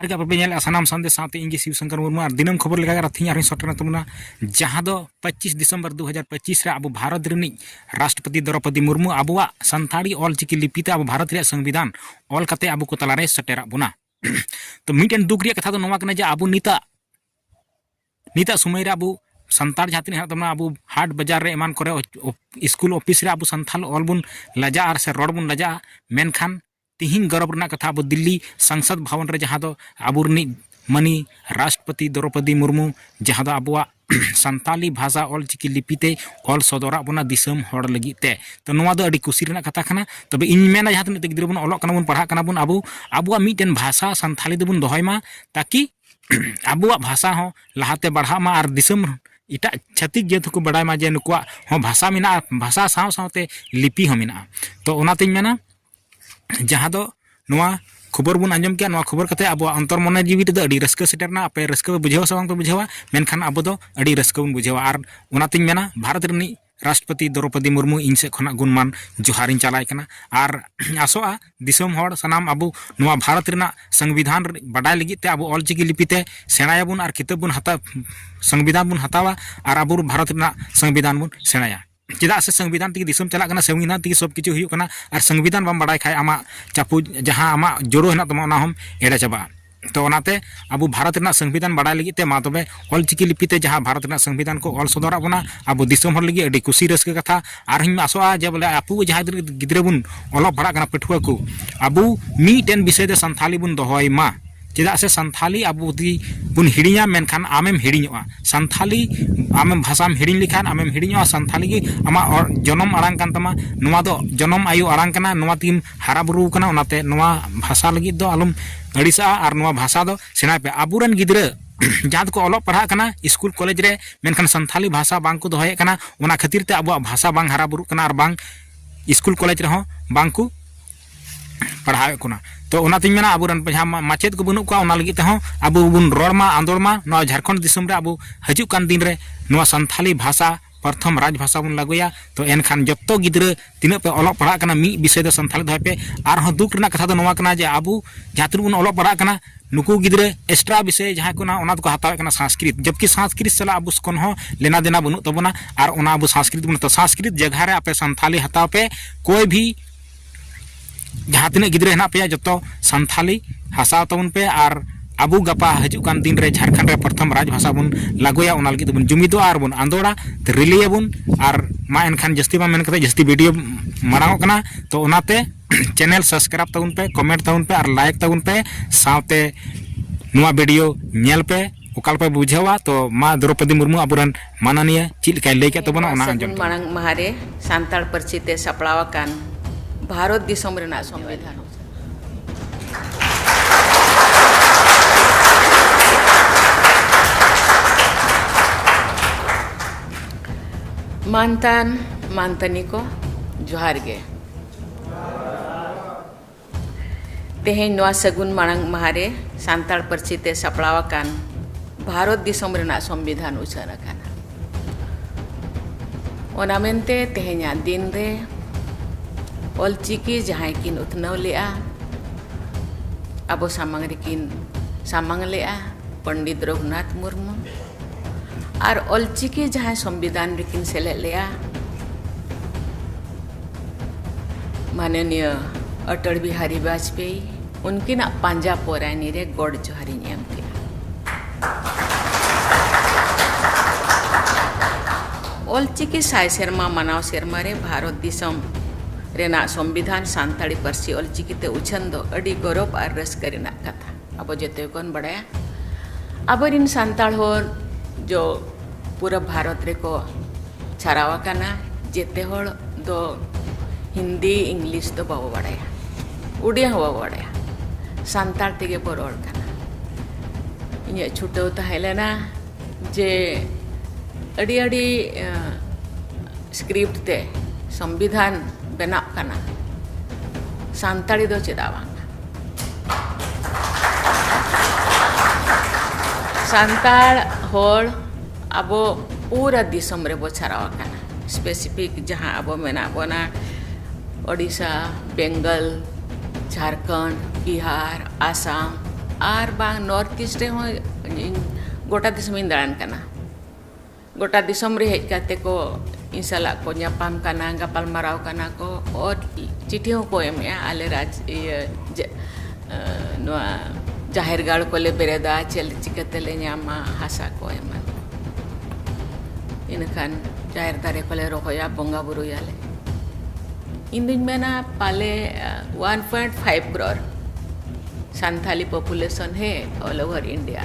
ᱟᱨᱜᱟ ᱵᱟᱯᱮ ᱧᱮᱞᱮᱜᱼᱟ ᱥᱟᱱᱟᱢ ᱥᱟᱱᱫᱮ ᱥᱟᱶᱛᱮ ᱤᱧ ᱜᱮ ᱥᱤᱵ ᱥᱚᱝᱠᱚᱨ ᱢᱩᱨᱢᱩ ᱟᱨ ᱫᱤᱱᱟᱹᱢ ᱠᱷᱚᱵᱚᱨ ᱞᱮᱠᱟ ᱟᱨ ᱛᱤᱦᱤᱧ ᱟᱨᱦᱚᱸ ᱥᱮᱴᱮᱨᱮᱱ ᱛᱟᱵᱚᱱᱟ ᱡᱟᱦᱟᱸ ᱫᱚ ᱯᱚᱸᱪᱤᱥ ᱰᱤᱥᱮᱢᱵᱚᱨ ᱫᱩ ᱦᱟᱡᱟᱨ ᱯᱚᱸᱪᱤᱥ ᱨᱮ ᱟᱵᱚ ᱵᱷᱟᱨᱚᱛ ᱨᱤᱱᱤᱡ ᱨᱟᱥᱴᱨᱚᱯᱚᱛᱤ ᱫᱨᱚᱯᱚᱫᱤ ᱢᱩᱨᱢᱩ ᱟᱵᱚᱣᱟᱜ ᱥᱟᱱᱛᱟᱲᱤ ᱚᱞᱪᱤᱠᱤ ᱞᱤᱯᱤ ᱛᱮ ᱟᱵᱚ ᱵᱷᱟᱨᱚᱛ ᱨᱮᱭᱟᱜ ᱥᱚᱝᱵᱤᱫᱷᱟᱱ ᱚᱞ ᱠᱟᱛᱮ ᱟᱵᱚ ᱠᱚ ᱛᱟᱞᱟᱨᱮ ᱥᱮᱴᱮᱨᱟᱜ ᱵᱚᱱᱟ ᱛᱚ ᱢᱤᱫᱴᱮᱱ ᱫᱩᱠ ᱨᱮᱭᱟᱜ ᱠᱟᱛᱷᱟ ᱫᱚ ᱱᱚᱣᱟ ᱠᱟᱱᱟ ᱡᱮ ᱟᱵᱚ ᱱᱤᱛᱟᱜ ᱱᱤᱛᱟᱜ ᱥᱚᱢᱚᱭ ᱨᱮ ᱟᱵᱚ ᱥᱟᱱᱛᱟᱲ ᱡᱟᱦᱟᱸ ᱛᱤᱱᱟᱹᱜ ᱦᱮᱱᱟᱜ ᱛᱟᱵᱚᱱᱟ ᱟᱵᱚ ᱦᱟᱴ ᱵᱟᱡᱟᱨ ᱨᱮ ᱮᱢᱟᱱ ᱠᱚᱨᱮ ᱥᱠᱩᱞ ᱚᱯᱷᱤᱥ ᱨᱮ ᱟᱵᱚ ᱥᱟᱱᱛᱟᱲ ᱚᱞ ᱵᱚᱱ ᱞᱟᱡᱟᱜᱼᱟ ᱟᱨ ᱥᱮ ᱨᱚᱲ ᱵᱚᱱ ᱞᱟᱡᱟᱜᱼᱟ ᱢᱮᱱᱠᱷᱟᱱ ᱛᱤᱦᱤᱧ ᱜᱚᱨᱚᱵᱽ ᱨᱮᱱᱟᱜ ᱠᱟᱛᱷᱟ ᱟᱵᱚ ᱫᱤᱞᱞᱤ ᱥᱟᱝᱥᱟᱫᱽ ᱵᱷᱟᱣᱚᱱ ᱨᱮ ᱡᱟᱦᱟᱸ ᱫᱚ ᱟᱵᱚ ᱨᱤᱱᱤᱡ ᱢᱟᱹᱱᱤ ᱨᱟᱥᱴᱨᱚᱯᱚᱛᱤ ᱫᱨᱚᱣᱯᱚᱫᱤ ᱢᱩᱨᱢᱩ ᱡᱟᱦᱟᱸ ᱫᱚ ᱟᱵᱚᱣᱟᱜ ᱥᱟᱱᱛᱟᱞᱤ ᱵᱷᱟᱥᱟ ᱚᱞ ᱪᱤᱠᱤ ᱞᱤᱯᱤ ᱛᱮᱭ ᱚᱞ ᱥᱚᱫᱚᱨᱟᱜ ᱵᱚᱱᱟ ᱫᱤᱥᱚᱢ ᱦᱚᱲ ᱞᱟᱹᱜᱤᱫ ᱛᱮ ᱛᱚ ᱱᱚᱣᱟ ᱫᱚ ᱟᱹᱰᱤ ᱠᱩᱥᱤ ᱨᱮᱱᱟᱜ ᱠᱟᱛᱷᱟ ᱠᱟᱱᱟ ᱛᱚᱵᱮ ᱤᱧ ᱢᱮᱱᱟ ᱡᱟᱦᱟᱸ ᱛᱤᱱᱟᱹᱜ ᱛᱮ ᱜᱤᱫᱽᱨᱟᱹ ᱵᱚᱱ ᱚᱞᱚᱜ ᱠᱟᱱᱟ ᱵᱚᱱ ᱯᱟᱲᱦᱟᱜ ᱠᱟᱱᱟ ᱵᱚᱱ ᱟᱵᱚ ᱟᱵᱚᱣᱟᱜ ᱢᱤᱫᱴᱮᱱ ᱵᱷᱟᱥᱟ ᱥᱟᱱᱛᱟᱞᱤ ᱫᱚᱵᱚᱱ ᱫᱚᱦᱚᱭ ᱢᱟ ᱛᱟᱠᱤ ᱟᱵᱚᱣᱟᱜ ᱵᱷᱟᱥᱟ ᱦᱚᱸ ᱞᱟᱦᱟᱛᱮ ᱵᱟᱲᱦᱟᱜ ᱢᱟ ᱟᱨ ᱫᱤᱥᱚᱢ ᱮᱴᱟᱜ ᱪᱷᱟᱹᱛᱤᱠ ᱡᱟᱹᱛ ᱦᱚᱸᱠᱚ ᱵᱟᱰᱟᱭ ᱢᱟ ᱡᱮ ᱱᱩᱠᱩᱣᱟᱜ ᱦᱚᱸ ᱵᱷᱟᱥᱟ ᱢᱮᱱᱟᱜᱼᱟ ᱵᱷᱟᱥᱟ ᱥᱟᱶ ᱥᱟᱶᱛᱮ ᱞᱤᱯᱤ ᱦᱚᱸ ᱢᱮᱱᱟᱜᱼᱟ ᱛᱚ ᱚᱱᱟᱛᱤᱧ ᱢᱮᱱᱟ ᱡᱟᱦᱟᱸ ᱫᱚ ᱱᱚᱣᱟ ᱠᱷᱚᱵᱚᱨ ᱵᱚᱱ ᱟᱸᱡᱚᱢ ᱠᱮᱜᱼᱟ ᱱᱚᱣᱟ ᱠᱷᱚᱵᱚᱨ ᱠᱟᱛᱮ ᱟᱵᱚᱣᱟᱜ ᱚᱱᱛᱚᱨ ᱢᱚᱱᱮ ᱡᱤᱣᱤ ᱨᱮᱫᱚ ᱟᱹᱰᱤ ᱨᱟᱹᱥᱠᱟᱹ ᱥᱮᱴᱮᱨᱱᱟ ᱟᱯᱮ ᱨᱟᱹᱥᱠᱟᱹ ᱯᱮ ᱵᱩᱡᱷᱟᱹᱣᱟ ᱥᱮ ᱵᱟᱝ ᱯᱮ ᱵᱩᱡᱷᱟᱹᱣᱟ ᱢᱮᱱᱠᱷᱟᱱ ᱟᱵᱚ ᱫᱚ ᱟᱹᱰᱤ ᱨᱟᱹᱥᱠᱟᱹ ᱵᱚᱱ ᱵᱩᱡᱷᱟᱹᱣᱟ ᱟᱨ ᱚᱱᱟᱛᱤᱧ ᱢᱮᱱᱟ ᱵᱷᱟᱨᱚᱛ ᱨᱤᱱᱤᱡ ᱨᱟᱥᱴᱨᱚᱯᱚᱛᱤ ᱫᱨᱚᱣᱯᱚᱫᱤ ᱢᱩᱨᱢᱩ ᱤᱧ ᱥᱮᱫ ᱠᱷᱚᱱᱟᱜ ᱜᱩᱱᱢᱟᱱ ᱡᱚᱦᱟᱨᱤᱧ ᱪᱟᱞᱟᱭ ᱠᱟᱱᱟ ᱟᱨ ᱟᱥᱚᱜᱼᱟ ᱫᱤᱥᱚᱢ ᱦᱚᱲ ᱥᱟᱱᱟᱢ ᱟᱵᱚ ᱱᱚᱣᱟ ᱵᱷᱟᱨᱚᱛ ᱨᱮᱱᱟᱜ ᱥᱚᱝᱵᱤᱫᱷᱟᱱ ᱵᱟᱰᱟᱭ ᱞᱟᱹᱜᱤᱫ ᱛᱮ ᱟᱵᱚ ᱚᱞᱪᱤᱠᱤ ᱞᱤᱯᱤᱛᱮ ᱥᱮᱬᱟᱭᱟᱵᱚᱱ ᱟᱨ ᱠᱤᱛᱟᱹᱵ ᱵᱚᱱ ᱦᱟᱛᱟᱣ ᱥᱚᱝᱵᱤᱫᱷᱟᱱ ᱵᱚᱱ ᱦᱟᱛᱟᱣᱟ ᱟᱨ ᱟᱵᱚ ᱵᱷᱟᱨᱚᱛ ᱨᱮᱱᱟᱜ ᱥᱚᱝᱵᱤᱫᱷᱟᱱ ᱵᱚᱱ ᱥᱮᱬᱟᱭᱟ ᱪᱮᱫᱟᱜ ᱥᱮ ᱥᱚᱝᱵᱤᱫᱷᱟᱱ ᱛᱮᱜᱮ ᱫᱤᱥᱚᱢ ᱪᱟᱞᱟᱜ ᱠᱟᱱᱟ ᱥᱚᱝᱵᱤᱫᱷᱟᱱ ᱛᱮᱜᱮ ᱥᱚᱵ ᱠᱤᱪᱷᱩ ᱦᱩᱭᱩᱜ ᱠᱟᱱᱟ ᱟᱨ ᱥᱚᱝᱵᱤᱫᱷᱟᱱ ᱵᱟᱢ ᱵᱟᱲᱟᱭ ᱠᱷᱟᱡ ᱟᱢᱟᱜ ᱪᱟᱯᱩ ᱡᱟᱦᱟᱸ ᱟᱢᱟᱜ ᱡᱳᱲᱳ ᱦᱮᱱᱟᱜ ᱛᱟᱢᱟ ᱚᱱᱟ ᱦᱚᱢ ᱮᱲᱮ ᱪᱟᱵᱟᱜᱼᱟ ᱛᱚ ᱚᱱᱟᱛᱮ ᱟᱵᱚ ᱵᱷᱟᱨᱚᱛ ᱨᱮᱱᱟᱜ ᱥᱚᱝᱵᱤᱫᱷᱟᱱ ᱵᱟᱲᱟᱭ ᱞᱟᱹᱜᱤᱫ ᱛᱮ ᱢᱟ ᱛᱚᱵᱮ ᱚᱞ ᱪᱤᱠᱤ ᱞᱤᱯᱤ ᱛᱮ ᱡᱟᱦᱟᱸ ᱵᱷᱟᱨᱚᱛ ᱨᱮᱱᱟᱜ ᱥᱚᱝᱵᱤᱫᱷᱟᱱ ᱠᱚ ᱚᱞ ᱥᱚᱫᱚᱨᱟᱜ ᱵᱚᱱᱟ ᱟᱵᱚ ᱫᱤᱥᱚᱢ ᱦᱚᱲ ᱞᱟᱹᱜᱤᱫ ᱟᱹᱰᱤ ᱠᱩᱥᱤ ᱨᱟᱹᱥᱠᱟᱹ ᱠᱟᱛᱷᱟ ᱟᱨ ᱦᱚᱧ ᱟᱥᱚᱜᱼᱟ ᱡᱮ ᱵᱚᱞᱮ ᱟᱵᱚ ᱡᱟᱦᱟᱸ ᱛᱤᱱᱟᱹᱜ ᱜᱤᱫᱽᱨᱟᱹ ᱵᱚᱱ ᱚᱞᱚᱜ ᱯᱟᱲᱦᱟᱜ ᱠᱟᱱᱟ ᱯᱟᱹᱴᱷᱩᱣᱟᱹ ᱠᱚ ᱟᱵᱚ ᱢᱤᱫᱴᱮᱱ ᱵᱤᱥᱚᱭ ᱛᱮ ᱥᱟᱱᱛᱷᱟᱞᱤ ᱵᱚᱱ ᱫᱚᱦᱚᱭ ᱢᱟ ᱪᱮᱫᱟᱜ ᱥᱮ ᱥᱟᱱᱛᱷᱟᱞᱤ ᱟᱵᱚ ᱡᱩᱫᱤ ᱵᱚᱱ ᱦᱤᱲᱤᱧᱟ ᱢᱮᱱᱠᱷᱟᱱ ᱟᱢᱮᱢ ᱦᱤᱲᱤᱧᱚᱜᱼᱟ ᱥᱟᱱᱛᱷᱟᱞᱤ ᱟᱢᱮᱢ ᱵᱷᱟᱥᱟᱢ ᱦᱤᱲᱤᱧ ᱞᱮᱠᱷᱟᱱ ᱟᱢᱮᱢ ᱦᱤᱲᱤᱧᱚᱜᱼᱟ ᱥᱟᱱᱛᱷᱟᱞᱤ ᱜᱮ ᱟᱢᱟᱜ ᱡᱚᱱᱚᱢ ᱟᱲᱟᱝ ᱠᱟᱱ ᱛᱟᱢᱟ ᱱᱚᱣᱟ ᱫᱚ ᱡᱚᱱᱚᱢ ᱟᱭᱳ ᱟᱲᱟᱝ ᱠᱟᱱᱟ ᱱᱚᱣᱟ ᱛᱮᱜᱮᱢ ᱦᱟᱨᱟ ᱵᱩᱨᱩ ᱟᱠᱟᱱᱟ ᱚᱱᱟᱛᱮ ᱱᱚᱣᱟ ᱵᱷᱟᱥᱟ ᱞᱟᱹᱜᱤᱫ ᱫᱚ ᱟᱞᱚᱢ ᱟᱹᱲᱤᱥᱟᱜᱼᱟ ᱟᱨ ᱱᱚᱣᱟ ᱵᱷᱟᱥᱟ ᱫᱚ ᱥᱮᱬᱟᱭ ᱯᱮ ᱟᱵᱚ ᱨᱮᱱ ᱜᱤᱫᱽᱨᱟᱹ ᱡᱟᱦᱟᱸ ᱫᱚᱠᱚ ᱚᱞᱚᱜ ᱯᱟᱲᱦᱟᱜ ᱠᱟᱱᱟ ᱥᱠᱩᱞ ᱠᱚᱞᱮᱡᱽ ᱨᱮ ᱢᱮᱱᱠᱷᱟᱱ ᱥᱟᱱᱛᱷᱟᱞᱤ ᱵᱷᱟᱥᱟ ᱵᱟᱝ ᱠᱚ ᱫᱚᱦᱚᱭᱮᱫ ᱠᱟᱱᱟ ᱚᱱᱟ ᱠᱷᱟᱹᱛᱤᱨ ᱛᱮ ᱟᱵᱚᱣᱟᱜ ᱵᱷᱟᱥᱟ ᱵᱟᱝ ᱦᱟᱨᱟ ᱵᱩᱨᱩᱜ ᱠᱟᱱᱟ ᱟᱨ ᱵᱟᱝ ᱥᱠᱩᱞ ᱠᱚᱞᱮᱡᱽ ᱨᱮᱦᱚᱸ ᱵᱟᱝ ᱠᱚ ᱯᱟᱲᱦᱟᱣᱮᱫ ᱠᱚᱱᱟ ᱛᱚ ᱚᱱᱟᱛᱤᱧ ᱢᱮᱱᱟ ᱟᱵᱚᱨᱮᱱ ᱡᱟᱦᱟᱸ ᱢᱟᱪᱮᱫ ᱠᱚ ᱵᱟᱹᱱᱩᱜ ᱠᱚᱣᱟ ᱚᱱᱟ ᱞᱟᱹᱜᱤᱫ ᱛᱮᱦᱚᱸ ᱟᱵᱚ ᱵᱚᱱ ᱨᱚᱲ ᱢᱟ ᱟᱸᱫᱳᱲ ᱢᱟ ᱱᱚᱣᱟ ᱡᱷᱟᱲᱠᱷᱚᱸᱰ ᱫᱤᱥᱚᱢ ᱨᱮ ᱟᱵᱚ ᱦᱤᱡᱩᱜ ᱠᱟᱱ ᱫᱤᱱ ᱨᱮ ᱱᱚᱣᱟ ᱥᱟᱱᱛᱷᱟᱞᱤ ᱵᱷᱟᱥᱟ ᱯᱨᱚᱛᱷᱚᱢ ᱨᱟᱡᱽ ᱵᱷᱟᱥᱟ ᱵᱚᱱ ᱞᱟᱹᱜᱩᱭᱟ ᱛᱚ ᱮᱱᱠᱷᱟᱱ ᱡᱚᱛᱚ ᱜᱤᱫᱽᱨᱟᱹ ᱛᱤᱱᱟᱹᱜ ᱯᱮ ᱚᱞᱚᱜ ᱯᱟᱲᱦᱟᱜ ᱠᱟᱱᱟ ᱢᱤᱫ ᱵᱤᱥᱚᱭ ᱫᱚ ᱥᱟᱱᱛᱷᱟᱞᱤ ᱫᱚᱦᱚᱭ ᱯᱮ ᱟᱨᱦᱚᱸ ᱫᱩᱠ ᱨᱮᱱᱟᱜ ᱠᱟᱛᱷᱟ ᱫᱚ ᱱᱚᱣᱟ ᱠᱟᱱᱟ ᱡᱮ ᱟᱵᱚ ᱡᱟᱦᱟᱸ ᱛᱤᱱᱟᱹᱜ ᱵᱚᱱ ᱚᱞᱚᱜ ᱯᱟᱲᱦᱟᱜ ᱠᱟᱱᱟ ᱱᱩᱠᱩ ᱜᱤᱫᱽᱨᱟᱹ ᱮᱠᱥᱴᱨᱟ ᱵᱤᱥᱚᱭ ᱡᱟᱦᱟᱸ ᱠᱚ ᱚᱱᱟ ᱫᱚᱠᱚ ᱦᱟᱛᱟᱣᱮᱫ ᱠᱟᱱᱟ ᱥᱟᱝᱥᱠᱨᱤᱛ ᱡᱚᱵᱠᱤ ᱥᱟᱝᱥᱠᱨᱤᱛ ᱥᱟᱞᱟᱜ ᱟᱵᱚ ᱠᱚᱱ ᱦᱚᱸ ᱞᱮᱱᱟ ᱫᱮᱱᱟ ᱵᱟᱹᱱᱩᱜ ᱛᱟᱵᱚᱱᱟ ᱟᱨ ᱚᱱᱟ ᱟᱵᱚ ᱥᱟᱝᱥᱠᱨᱤᱛ ᱵᱚᱱ ᱦᱟᱛᱟᱣᱟ ᱥᱟᱝᱥᱠᱨᱤᱛ ᱡᱟᱭᱜᱟ ᱨᱮ ᱟᱯᱮ ᱥᱟᱱᱛᱷᱟᱞᱤ ᱦᱟᱛᱟᱣ ᱯᱮ ᱠᱳᱭ ᱵᱷᱤ ᱡᱟᱦᱟᱸ ᱛᱤᱱᱟᱹᱜ ᱜᱤᱫᱽᱨᱟᱹ ᱦᱮᱱᱟᱜ ᱯᱮᱭᱟ ᱡᱚᱛᱚ ᱥᱟᱱᱛᱷᱟᱞᱤ ᱦᱟᱥᱟ ᱛᱟᱵᱚᱱ ᱯᱮ ᱟᱨ ᱟᱵᱚ ᱜᱟᱯᱟ ᱦᱤᱡᱩᱜ ᱠᱟᱱ ᱫᱤᱱ ᱨᱮ ᱡᱷᱟᱲᱠᱷᱚᱸᱰ ᱨᱮ ᱯᱨᱚᱛᱷᱚᱢ ᱨᱟᱡᱽ ᱵᱷᱟᱥᱟ ᱵᱚᱱ ᱞᱟᱜᱩᱭᱟ ᱚᱱᱟ ᱞᱟᱹᱜᱤᱫ ᱛᱮᱵᱚᱱ ᱡᱩᱢᱤᱫᱚᱜᱼᱟ ᱟᱨ ᱵᱚᱱ ᱟᱸᱫᱳᱲᱟ ᱨᱤᱞᱟᱹᱭ ᱟᱵᱚᱱ ᱟᱨ ᱢᱟ ᱮᱱᱠᱷᱟᱱ ᱡᱟᱹᱥᱛᱤ ᱵᱟᱝ ᱢᱮᱱ ᱠᱟᱛᱮ ᱡᱟᱹᱥᱛᱤ ᱵᱷᱤᱰᱤᱭᱳ ᱢᱟᱲᱟᱝᱚᱜ ᱠᱟᱱᱟ ᱛᱚ ᱚᱱᱟᱛᱮ ᱪᱮᱱᱮᱞ ᱥᱟᱵᱥᱠᱨᱟᱭᱤᱵᱽ ᱛᱟᱵᱚᱱ ᱯᱮ ᱠᱚᱢᱮᱱᱴ ᱛᱟᱵᱚᱱ ᱯᱮ ᱟᱨ ᱞᱟᱭᱤᱠ ᱛᱟᱵᱚᱱ ᱯᱮ ᱥᱟᱶᱛᱮ ᱱᱚᱣᱟ ᱵᱷᱤᱰᱤᱭᱳ ᱧᱮᱞ ᱯᱮ ᱚᱠᱟ ᱞᱮᱠᱟ ᱵᱩᱡᱷᱟᱹᱣᱟ ᱛᱚ ᱢᱟ ᱫᱨᱚᱯᱚᱫᱤ ᱢᱩᱨᱢᱩ ᱟᱵᱚᱨᱮᱱ ᱢᱟᱱᱟᱱᱤᱭᱟᱹ ᱪᱮᱫ ᱞᱮᱠᱟᱭ ᱞᱟᱹᱭ ᱠᱮᱫ ᱛᱟᱵᱚᱱᱟ ᱚᱱᱟ ᱟᱸᱡᱚᱢ ᱢᱟᱲᱟᱝ ᱢᱟᱦᱟ ᱨᱮ ᱥᱟᱱᱛᱟᱲ ᱯᱟᱹᱨᱥᱤ ᱛᱮ ᱥᱟᱯᱲᱟᱣ ᱟᱠᱟᱱ ᱵᱷᱟᱨᱚᱛ ᱫᱤᱥᱚᱢ ᱨᱮᱱᱟᱜ ᱥᱚᱝᱵᱤᱫᱷᱟᱱ ᱢᱟᱱᱛᱟᱱ ᱢᱟᱱᱛᱟᱱᱤ ᱠᱚ ᱡᱚᱦᱟᱨ ᱜᱮ ᱛᱮᱦᱮᱧ ᱱᱚᱣᱟ ᱥᱟᱹᱜᱩᱱ ᱢᱟᱲᱟᱝ ᱢᱟᱦᱟ ᱨᱮ ᱥᱟᱱᱛᱟᱲ ᱯᱟᱹᱨᱥᱤ ᱛᱮ ᱥᱟᱯᱲᱟᱣ ᱟᱠᱟᱱ ᱵᱷᱟᱨᱚᱛ ᱫᱤᱥᱚᱢ ᱨᱮᱱᱟᱜ ᱥᱚᱝᱵᱤᱫᱷᱟᱱ ᱩᱪᱷᱟᱹᱱ ᱟᱠᱟᱱᱟ ᱚᱱᱟ ᱢᱮᱱᱛᱮ ᱛᱮᱦᱮᱧᱟᱜ ᱫᱤᱱ ᱨᱮ ᱚᱞᱪᱤᱠᱤ ᱡᱟᱦᱟᱸᱭ ᱠᱤᱱ ᱩᱛᱱᱟᱹᱣ ᱞᱮᱜᱼᱟ ᱟᱵᱚ ᱥᱟᱢᱟᱝ ᱨᱮᱠᱤᱱ ᱥᱟᱢᱟᱝ ᱞᱮᱜᱼᱟ ᱯᱚᱱᱰᱤᱛ ᱨᱚᱜᱷᱩᱱᱟᱛᱷ ᱢᱩᱨᱢᱩ ᱟᱨ ᱚᱞᱪᱤᱠᱤ ᱡᱟᱦᱟᱸᱭ ᱥᱚᱝᱵᱤᱫᱷᱟᱱ ᱨᱮᱠᱤᱱ ᱥᱮᱞᱮᱫ ᱞᱮᱫᱼᱟ ᱢᱟᱱᱚᱱᱤᱭᱚ ᱚᱴᱚᱞ ᱵᱤᱦᱟᱨᱤ ᱵᱟᱡᱽᱯᱮᱭᱤ ᱩᱱᱠᱤᱱᱟᱜ ᱯᱟᱸᱡᱟ ᱯᱚᱨᱟᱭᱱᱤ ᱨᱮ ᱜᱚᱰ ᱡᱚᱦᱟᱨᱤᱧ ᱮᱢ ᱠᱮᱫᱼᱟ ᱚᱞᱪᱤᱠᱤ ᱥᱟᱭ ᱥᱮᱨᱢᱟ ᱢᱟᱱᱟᱣ ᱥᱮᱨᱢᱟ ᱨᱮ ᱵᱷᱟᱨᱚᱛ ᱫᱤᱥᱚᱢ ᱨᱮᱱᱟᱜ ᱥᱚᱝᱵᱤᱫᱷᱟᱱ ᱥᱟᱱᱛᱟᱲᱤ ᱯᱟᱹᱨᱥᱤ ᱚᱞᱪᱤᱠᱤᱛᱮ ᱩᱪᱷᱟᱹᱱ ᱫᱚ ᱟᱹᱰᱤ ᱜᱚᱨᱚᱵᱽ ᱟᱨ ᱨᱟᱹᱥᱠᱟᱹ ᱨᱮᱱᱟᱜ ᱠᱟᱛᱷᱟ ᱟᱵᱚ ᱡᱚᱛᱚ ᱠᱚᱱ ᱵᱟᱲᱟᱭᱟ ᱟᱵᱚᱨᱤᱱ ᱥᱟᱱᱛᱟᱲ ᱦᱚᱲ ᱡᱚ ᱯᱩᱨᱟᱹ ᱵᱷᱟᱨᱚᱛ ᱨᱮᱠᱚ ᱪᱷᱟᱨᱟᱣ ᱟᱠᱟᱱᱟ ᱡᱮᱛᱮ ᱦᱚᱲ ᱫᱚ ᱦᱤᱱᱫᱤ ᱤᱝᱞᱤᱥ ᱫᱚ ᱵᱟᱵᱚ ᱵᱟᱲᱟᱭᱟ ᱩᱰᱤᱭᱟ ᱦᱚᱸ ᱵᱟᱵᱚ ᱵᱟᱲᱟᱭᱟ ᱥᱟᱱᱛᱟᱲ ᱛᱮᱜᱮ ᱵᱚ ᱨᱚᱲ ᱠᱟᱱᱟ ᱤᱧᱟᱹᱜ ᱪᱷᱩᱴᱟᱹᱣ ᱛᱟᱦᱮᱸ ᱞᱮᱱᱟ ᱡᱮ ᱟᱹᱰᱤ ᱟᱹᱰᱤ ᱥᱠᱨᱤᱯᱴ ᱛᱮ ᱥᱚᱝᱵᱤᱫᱷᱟᱱ ᱵᱮᱱᱟᱜ ᱠᱟᱱᱟ ᱥᱟᱱᱛᱟᱲᱤ ᱫᱚ ᱪᱮᱫᱟᱜ ᱵᱟᱝ ᱥᱟᱱᱛᱟᱲ ᱦᱚᱲ ᱟᱵᱚ ᱯᱩᱨᱟᱹ ᱫᱤᱥᱚᱢ ᱨᱮᱵᱚ ᱪᱷᱟᱨᱟᱣ ᱟᱠᱟᱱᱟ ᱥᱯᱮᱥᱤᱯᱷᱤᱠ ᱡᱟᱦᱟᱸ ᱟᱵᱚ ᱢᱮᱱᱟᱜ ᱵᱚᱱᱟ ᱳᱰᱤᱥᱟ ᱵᱮᱝᱜᱚᱞ ᱡᱷᱟᱲᱠᱷᱚᱸᱰ ᱵᱤᱦᱟᱨ ᱟᱥᱟᱢ ᱟᱨ ᱵᱟᱝ ᱱᱚᱨᱛᱷ ᱤᱥᱴ ᱨᱮᱦᱚᱸ ᱤᱧ ᱜᱚᱴᱟ ᱫᱤᱥᱚᱢᱤᱧ ᱫᱟᱬᱟᱱ ᱠᱟᱱᱟ ᱜᱚᱴᱟ ᱫᱤᱥᱚᱢ ᱨᱮ ᱦᱮᱡ ᱠᱟᱛᱮ ᱠᱚ ᱤᱧ ᱥᱟᱞᱟᱜ ᱠᱚ ᱧᱟᱯᱟᱢ ᱠᱟᱱᱟ ᱜᱟᱯᱟᱞ ᱢᱟᱨᱟᱣ ᱠᱟᱱᱟ ᱠᱚ ᱚᱨ ᱪᱤᱴᱷᱤ ᱦᱚᱸᱠᱚ ᱮᱢᱮᱜᱼᱟ ᱟᱞᱮ ᱨᱟᱡᱽ ᱤᱭᱟᱹ ᱱᱚᱣᱟ ᱡᱟᱦᱮᱨ ᱜᱟᱲ ᱠᱚᱞᱮ ᱵᱮᱨᱮᱫᱟ ᱪᱮᱫ ᱪᱤᱠᱟᱹᱛᱮ ᱞᱮ ᱧᱟᱢᱟ ᱦᱟᱥᱟ ᱠᱚ ᱮᱢᱟᱱ ᱤᱱᱟᱹ ᱠᱷᱟᱱ ᱡᱟᱦᱮᱨ ᱫᱟᱨᱮ ᱠᱚᱞᱮ ᱨᱚᱦᱚᱭᱟ ᱵᱚᱸᱜᱟ ᱵᱩᱨᱩᱭᱟᱞᱮ ᱤᱧ ᱫᱩᱧ ᱢᱮᱱᱟ ᱯᱟᱞᱮ one point five crore Santali population ᱦᱮ ᱚᱞ ᱳᱵᱷᱟᱨ ᱤᱱᱰᱤᱭᱟ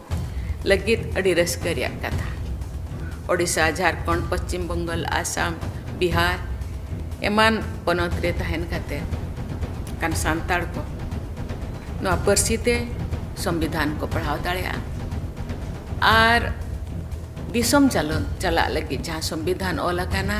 ᱞᱟᱹᱜᱤᱫ ᱟᱹᱰᱤ ᱨᱟᱹᱥᱠᱟᱹ ᱨᱮᱭᱟᱜ ᱠᱟᱛᱷᱟ ᱳᱰᱤᱥᱟ ᱡᱷᱟᱨᱠᱷᱚᱸᱰ ᱯᱚᱪᱷᱤᱢ ᱵᱮᱝᱜᱚᱞ ᱟᱥᱟᱢ ᱵᱤᱦᱟᱨ ᱮᱢᱟᱱ ᱯᱚᱱᱚᱛ ᱨᱮ ᱛᱟᱦᱮᱱ ᱠᱟᱛᱮ ᱠᱟᱱ ᱥᱟᱱᱛᱟᱲ ᱠᱚ ᱱᱚᱣᱟ ᱯᱟᱹᱨᱥᱤ ᱛᱮ ᱥᱚᱝᱵᱤᱫᱷᱟᱱ ᱠᱚ ᱯᱟᱲᱦᱟᱣ ᱫᱟᱲᱮᱭᱟᱜᱼᱟ ᱟᱨ ᱫᱤᱥᱚᱢ ᱪᱟᱞᱟᱜ ᱞᱟᱹᱜᱤᱫ ᱡᱟᱦᱟᱸ ᱥᱚᱝᱵᱤᱫᱷᱟᱱ ᱚᱞ ᱟᱠᱟᱱᱟ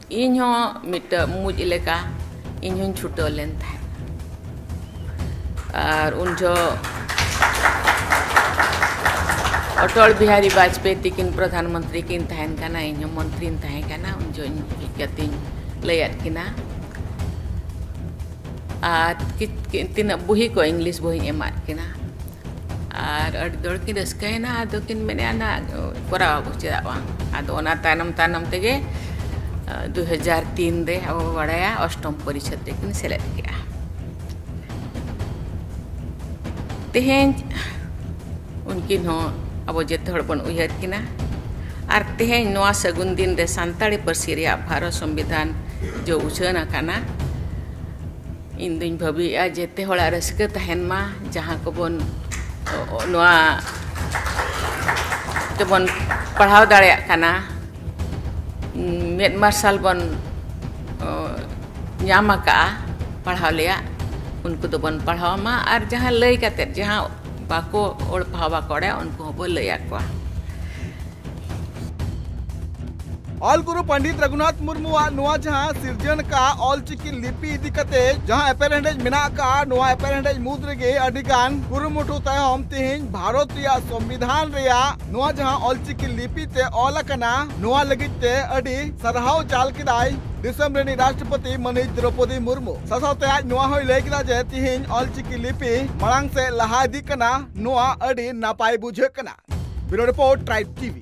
ᱤᱧ ᱦᱚᱸ ᱢᱤᱫᱴᱟᱹᱜ ᱢᱩᱡ ᱞᱮᱠᱟ ᱤᱧ ᱦᱚᱸᱧ ᱪᱷᱩᱴᱟᱹᱣ ᱞᱮᱱ ᱛᱟᱦᱮᱸᱫ ᱟᱨ ᱩᱱ ᱡᱚᱦᱚᱜ ᱚᱴᱚᱞ ᱵᱤᱦᱟᱨᱤ ᱵᱟᱡᱽᱯᱮᱭᱤ ᱛᱤᱠᱤᱱ ᱯᱨᱚᱫᱷᱟᱱ ᱢᱚᱱᱛᱨᱤ ᱠᱤᱱ ᱛᱟᱦᱮᱱ ᱠᱟᱱᱟ ᱤᱧ ᱦᱚᱸ ᱢᱚᱱᱛᱨᱤᱧ ᱛᱟᱦᱮᱸ ᱠᱟᱱᱟ ᱩᱱ ᱡᱚᱦᱚᱜ ᱤᱧ ᱦᱮᱡ ᱠᱟᱛᱮᱧ ᱞᱟᱹᱭᱟᱫ ᱠᱤᱱᱟ ᱟᱨ ᱛᱤᱱᱟᱹᱜ ᱵᱩᱦᱤ ᱠᱚ ᱤᱝᱞᱤᱥ ᱵᱩᱦᱤᱧ ᱮᱢᱟᱫ ᱠᱤᱱᱟ ᱟᱨ ᱟᱹᱰᱤ ᱫᱚᱲ ᱠᱤᱱ ᱨᱟᱹᱥᱠᱟᱹᱭᱮᱱᱟ ᱟᱫᱚ ᱠᱤᱱ ᱢᱮᱱᱮᱫᱼᱟ ᱱᱟ ᱠᱚᱨᱟᱣ ᱟᱵᱚ ᱪᱮᱫᱟᱜ ᱵᱟᱝ ᱟᱫᱚ ᱚᱱᱟ ᱛᱟᱭᱱᱚᱢ ᱛᱟᱭᱱᱚᱢ ᱛᱮᱜᱮ ᱫᱩ ᱦᱟᱡᱟᱨ ᱛᱤᱱ ᱨᱮ ᱟᱵᱚ ᱵᱚ ᱵᱟᱲᱟᱭᱟ ᱚᱥᱴᱚᱢ ᱯᱚᱨᱤᱪᱷᱚᱫ ᱨᱮᱠᱤᱱ ᱥᱮᱞᱮᱫ ᱠᱮᱫᱼᱟ ᱛᱮᱦᱮᱧ ᱩᱱᱠᱤᱱ ᱦᱚᱸ ᱟᱵᱚ ᱡᱚᱛᱚ ᱦᱚᱲ ᱵᱚᱱ ᱩᱭᱦᱟᱹᱨ ᱠᱤᱱᱟ ᱟᱨ ᱛᱮᱦᱮᱧ ᱱᱚᱣᱟ ᱥᱟᱹᱜᱩᱱ ᱫᱤᱱ ᱨᱮ ᱥᱟᱱᱛᱟᱲᱤ ᱯᱟᱹᱨᱥᱤ ᱨᱮᱭᱟᱜ ᱵᱷᱟᱨᱚᱛ ᱥᱚᱝᱵᱤᱫᱷᱟᱱ ᱡᱚ ᱩᱪᱷᱟᱹᱱ ᱟᱠᱟᱱᱟ ᱤᱧ ᱫᱩᱧ ᱵᱷᱟᱹᱵᱤᱭᱮᱫᱼᱟ ᱡᱮᱛᱮ ᱦᱚᱲᱟᱜ ᱨᱟᱹᱥᱠᱟᱹ ᱛᱟᱦᱮᱱ ᱢᱟ ᱡᱟᱦᱟᱸ ᱠᱚᱵᱚᱱ ᱱᱚᱣᱟ ᱛᱮᱵᱚᱱ ᱯᱟᱲᱦᱟᱣ ᱫᱟᱲᱮᱭᱟᱜ ᱠᱟᱱᱟ ᱢᱮᱫ ᱢᱟᱨᱥᱟᱞ ᱵᱚᱱ ᱧᱟᱢ ᱟᱠᱟᱫᱼᱟ ᱯᱟᱲᱦᱟᱣ ᱞᱮᱭᱟᱜ ᱩᱱᱠᱩ ᱫᱚᱵᱚᱱ ᱯᱟᱲᱦᱟᱣ ᱢᱟ ᱟᱨ ᱡᱟᱦᱟᱸ ᱞᱟᱹᱭ ᱠᱟᱛᱮᱫ ᱡᱟᱦᱟᱸ ᱵᱟᱠᱚ ᱚᱞ ᱯᱟᱲᱦᱟᱣ ᱵᱟᱠᱚ ᱵᱟᱲᱟᱭᱟ ᱩᱱᱠᱩ ᱦᱚᱸᱵᱚ ᱞᱟᱹᱭ ᱟᱠᱚᱣᱟ ᱚᱞ ᱜᱩᱨᱩ ᱯᱚᱱᱰᱤᱛ ᱨᱟᱹᱜᱷᱩᱱᱟᱛᱷ ᱢᱩᱨᱢᱩᱣᱟᱜ ᱱᱚᱣᱟ ᱡᱟᱦᱟᱸ ᱥᱤᱨᱡᱚᱱ ᱟᱠᱟᱫ ᱚᱞᱪᱤᱠᱤ ᱞᱤᱯᱤ ᱤᱫᱤ ᱠᱟᱛᱮ ᱡᱟᱦᱟᱸ ᱮᱯᱮᱨᱦᱮᱸᱰᱮᱡ ᱢᱮᱱᱟᱜ ᱟᱠᱟᱫ ᱱᱚᱣᱟ ᱮᱯᱮᱨᱦᱮᱸᱰᱮᱡ ᱢᱩᱫᱽ ᱨᱮᱜᱮ ᱟᱹᱰᱤ ᱜᱟᱱ ᱠᱩᱨᱩᱢᱩᱴᱩ ᱛᱟᱭᱚᱢ ᱛᱮᱦᱮᱧ ᱵᱷᱟᱨᱚᱛ ᱨᱮᱭᱟᱜ ᱥᱚᱝᱵᱤᱫᱷᱟᱱ ᱨᱮᱭᱟᱜ ᱱᱚᱣᱟ ᱡᱟᱦᱟᱸ ᱚᱞᱪᱤᱠᱤ ᱞᱤᱯᱤ ᱛᱮ ᱚᱞ ᱟᱠᱟᱱᱟ ᱱᱚᱣᱟ ᱞᱟᱹᱜᱤᱫ ᱛᱮ ᱟᱹᱰᱤ ᱥᱟᱨᱦᱟᱣ ᱪᱟᱞ ᱠᱮᱫᱟᱭ ᱫᱤᱥᱚᱢ ᱨᱤᱱᱤᱡ ᱨᱟᱥᱴᱨᱚᱯᱚᱛᱤ ᱢᱟᱹᱱᱤᱡ ᱫᱨᱚᱯᱚᱫᱤ ᱢᱩᱨᱢᱩ ᱥᱟᱥᱟᱣᱛᱮ ᱟᱡ ᱱᱚᱣᱟ ᱦᱚᱸᱭ ᱞᱟᱹᱭ ᱠᱮᱫᱟ ᱡᱮ ᱛᱮᱦᱮᱧ ᱚᱞᱪᱤᱠᱤ ᱞᱤᱯᱤ ᱢᱟᱲᱟᱝ ᱥᱮᱫ ᱞᱟᱦᱟ ᱤᱫᱤᱜ ᱠᱟᱱᱟ ᱱᱚᱣᱟ ᱟᱹᱰᱤ ᱱᱟᱯᱟᱭ ᱵᱩᱡᱷᱟᱹᱜ ᱠᱟᱱᱟ ᱵᱤᱨᱳ ᱨᱤᱯᱳᱨᱴ ᱴᱨᱟᱭᱤᱵ ᱴᱤᱵᱷᱤ